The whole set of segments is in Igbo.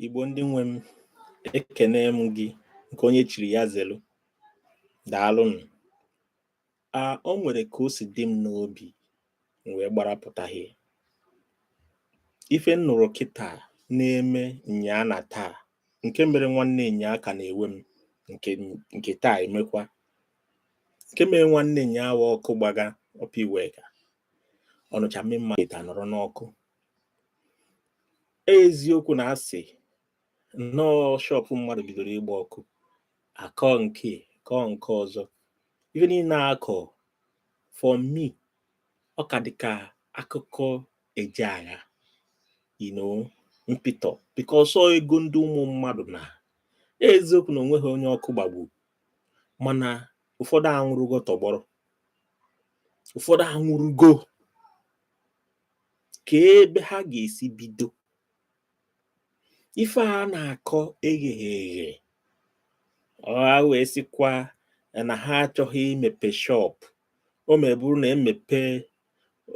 Igbo ndị nwe m ekene m gị nke onye chiri ya zelu daalụnụ a o nwere ka o si dị m n'obi m wee gbara pụtaghị ife m nụrụ kịta na-eme nyaa na taa nke mere nwanne nyaa ka na-ewe m nke taa emekwa nke mere nwanne nyaa wa ọkụ gbaga Upper Iweka Ọnịcha Main Market taa nọrọ n'ọkụ eziokwu na a sị na ọ shọpụ mmadụ bidoro ịgba ọkụ a kọọ nke a kọọ nke ọzọ ife niile akọ for me ọ ka dị ka akụkọ eje agha you know mpịtọ because ọ ego ndị ụmụ mmadụ na eziokwu na o nweghị onye ọkụ gbagbu mana ụfọdụ anwụrụgo tọgbọrọ ụfọdụ anwụrụgo ka ebe ha ga-esi bido ife a na-akọ egheghị eghe ha wee sịkwa na ha achọghị imepe shop o mebụrụ na e mepe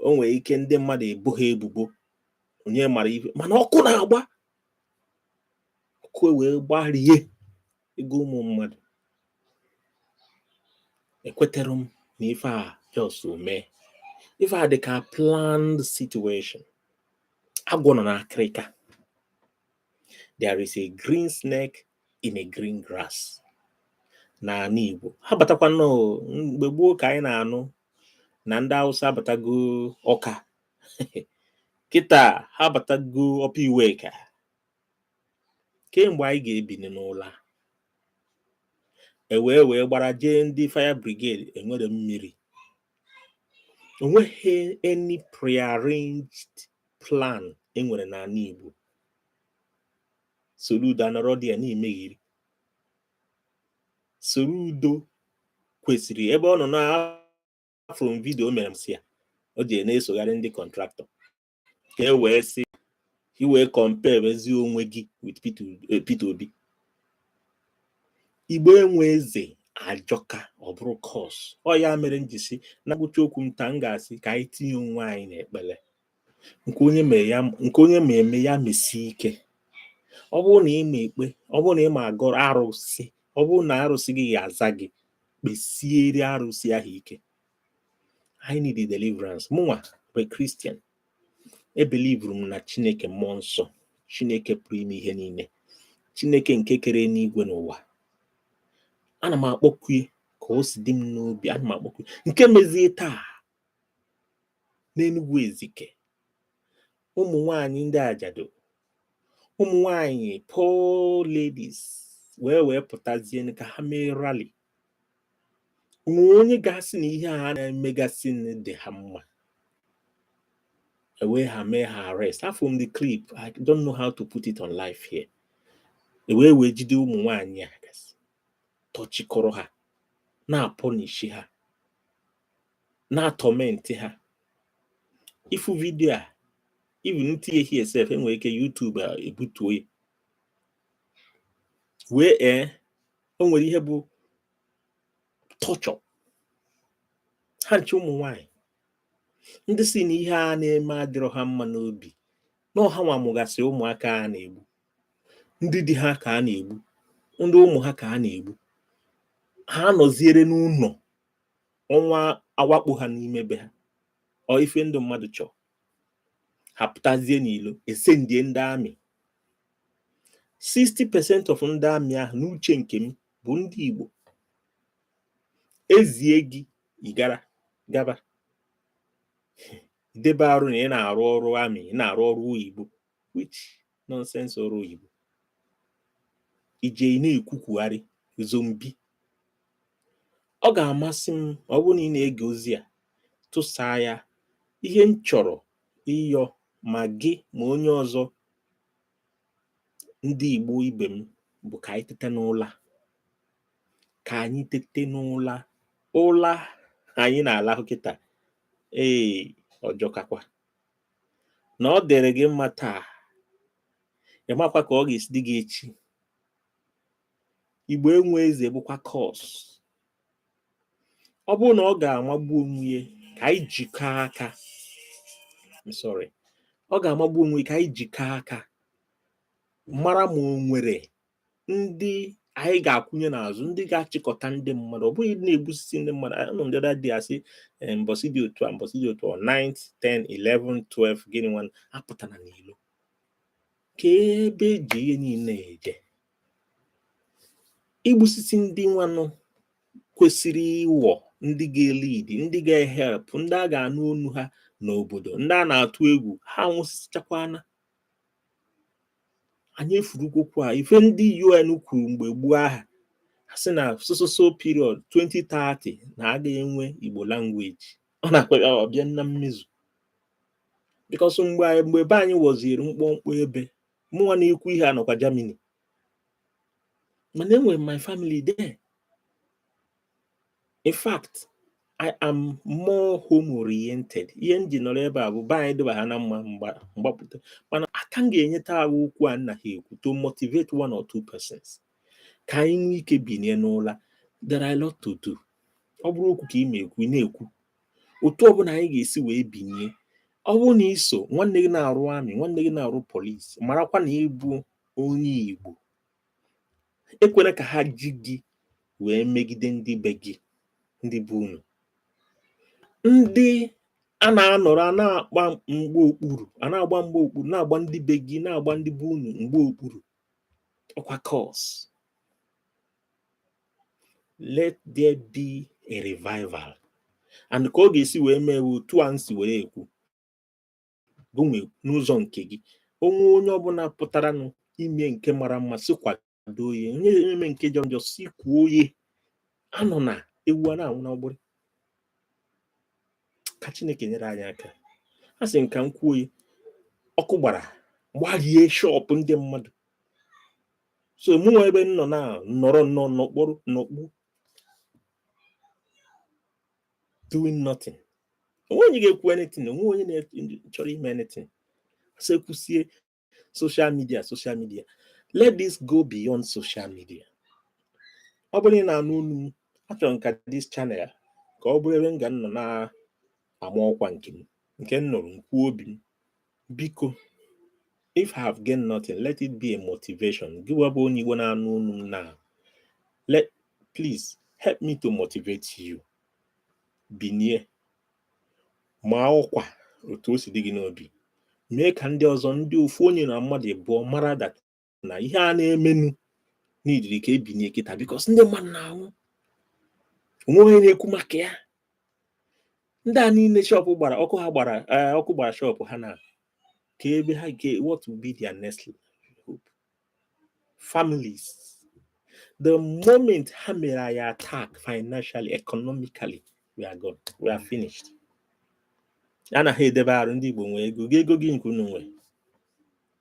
o nwere ike ndị mmadụ ebu ha ebubo onye mara ife mana ọkụ na-agba ọkụ e wee gbarie ego ụmụ mmadụ ekweterọ m na ife a just mee ife a dị ka planned situation agwọ nọ n'akịrịka there is a green snake in a green grass n'ala Igbo ha batakwa na ọ mgbe gboo ka anyị na-anụ na ndị Hausa abatago Ọka kịta ha abatago Upper Iweka kee mgbe anyị ga-ebini n'ụla e wee wee gbara jee ndị fire brigade enwerọ mmiri o nweghị any prearranged plan e nwere n'ala Igbo Soludo anọrọ there na-emeghiri Soludo kwesịrị ebe ọ nọ na from video mere m sị ya o ji na-esogharị ndị kọntraktọ ka e wee sị i wee compare ezi onwe gị with Peter Obi Igbo enwe eze ajọka ọ bụrụ curse ọ ya mere m ji sị na ngwụcha okwu m taa m ga-asị ka anyị tinye onwe anyị n'ekpere nke onye ma eme ya mesie ike ọ bụrụ na ị ma ekpe ọ bụrụ na ị ma agọrọ arụsị ọ bụrụ na arụsị gị ga-aza gị kpesiere arụsị ahụ ike anyị need the deliverance mụnwa bụ kristian ebelivuru m na chineke mmụọ nsọ chineke pụrụ ime ihe niile chineke nke kere enigwe na ụwa ana m akpọku ya ka o si dị m n'obi ana m akpọku ya nke mezie taa n'enugwu ezike ụmụ nwanyị ndị ajadu ụmụ nwanyị poor ladies wee wee pụtazie ka ha mee rally o nwe onye ga-asị na ihe a na-emegasị dị ha mma ewee ha mee ha arrest afụ m the clip I don't know how to put it on live here ewee wee jide ụmụ nwaanyị a gasị tọchikọrọ ha na-apọnishi ha na-atọmenti ha ị fụ vidio a even m tinye here sef e nwere ike YouTube ebutuo ya wee ee eh, o nwere ihe bụ torture ha nche ụmụ nwanyị ndị sị na ihe a na-eme adịrọ ha mma n'obi na ọ hanwa mụgasị ụmụaka a na-egbu ndị di ha ka a na-egbu ndị ụmụ ha ka a na-egbu ha nọziere n'ụlọ onwe ha awakpo ha n'ime be ha ọ ife ndị mmadụ chọọ ha pụtazie n'ilo e sendie ndị amị 60 percent of ndị amị ahụ n'uche nke m bụ ndị Igbo e zie gị ị gara gaba debe arụ na ị na-arụ ọrụ amị ị na-arụ ọrụ oyibo which nonsense ọrụ oyibo ije ị na-ekwukwugharị zombi ọ ga-amasị m ọ bụrụ na ị na-ege ozi a tụsaa ya ihe m chọrọ ịyọ ma gị ma onye ọzọ ndị Igbo ibe m bụ ka anyị tete n'ụla ka anyị tete n'ụla ụla anyị na-alahụ kịta ee ọ jọkakwa na ọ dịrị gị mma taa ị makwa ka ọ ga-esi dị gị echi igbo enwe eze bụkwa curse ọ bụrụ na ọ ga-amagbu onwe ya ka anyị jikọọ aka I'm sorry ọ ga-amagbu onwe ya ka anyị jikọọ aka mara ma o nwere ndị anyị ga-akwụnye n'azụ ndị ga-achịkọta ndị mmadụ ọ bụghị na-egbusisi ndị mmadụ anụ m the other day a sị eh, mbọsị dị otu a mbọsị dị otu a 9 10 11 12 gịnị nwa apụtana n'ilo ka ebe e ji ihe niile eje igbusisi ndị nwanụ kwesịrị ịwọ ndị ga-elead ndị ga-ehelp ndị a ga-anụ onu ha n'obodo ndị a na-atụ egwu ha nwụsịchakwana anyị efurukwa okwu a ife ndị UN kwuru mgbe gboo ahụ ha sị na so so so period 2030 na aga enwe Igbo language ọ nakwa abịa na mmezu because mgbe mgbe be anyị wọziri mkpọmkpọ ebe mụnwa na-ekwu ihe a nọkwa Germany mana enwere my family there in fact I am more home oriented ihe m ji nọrọ ebe a bụ be anyị dịba ha na mma m gbapụta mana aka m ga-enyeta ahụ okwu a m naha ekwu to motivate one or two persons ka anyị nwee ike binie n'ụla there are a lot to do ọ bụrụ okwu ka ị ma ekwu ị na-ekwu otu ọbụla anyị ga-esi wee binie ọ bụrụ na iso nwanne gị na-arụ army nwanne gị na-arụ police marakwa na ị bụ onye Igbo ekwela ka ha ji gị wee megide ndị be gị ndị be unu ndị a na-anọrọ a na-agba mgbe okpuru a na-agba mgbe okpuru na-agba ndị be gị na-agba ndị be unu mgba okpuru ọkwa curse let there be a revival and ka ọ ga-esi wee mee otu a m si were ekwu gịnwa n'ụzọ nke gị onwe onye ọbụla pụtaranụ ime nke mara mma si kwado ya onye eme nke jọ njọ si kwuo onye anọna ewu a na-anwụ n'ọgbụrị ka chineke nyere anyị aka asị m ka m kwuo ọkụ gbara gbarie shop ndị mmadụ so mụ nwa ebe m nọ na nọrọ nnọọ n'okporo n'okpu doing nothing onwe onye ga-ekwu anything onwe onye na-chọrọ ime anything so ekwusie social media social media let this go beyond social media ọ bụrụ na ị na-anụ onu m achọrọ m ka this channel ka ọ bụrụ ebe m ga nọ na-ama ọkwa nke m nke m nụrụ m kwuo obi m biko if I have gained nothing let it be a motivation gịwa bụ onye Igbo na-anụ onu m now please help me to motivate you binie maa ọkwa otu o si dị gị n'obi mee ka ndị ọzọ ndị ofu onye na mmadụ abụọ mara that na ihe a na-emenu needịrị ka e binie kịta because ndị mmadụ na-anwụ onwe onye na-ekwu maka ya ndị a niile shop gbara ọkụ ha gbara eh, ọkụ gbara shop ha na ka ebe ha ga what will be their next hope families the moment ha mere anyị attack financially economically we are gone we are finished anaghị edebe arụ ndị Igbo nwee ego gị ego gịnị ka unu nwee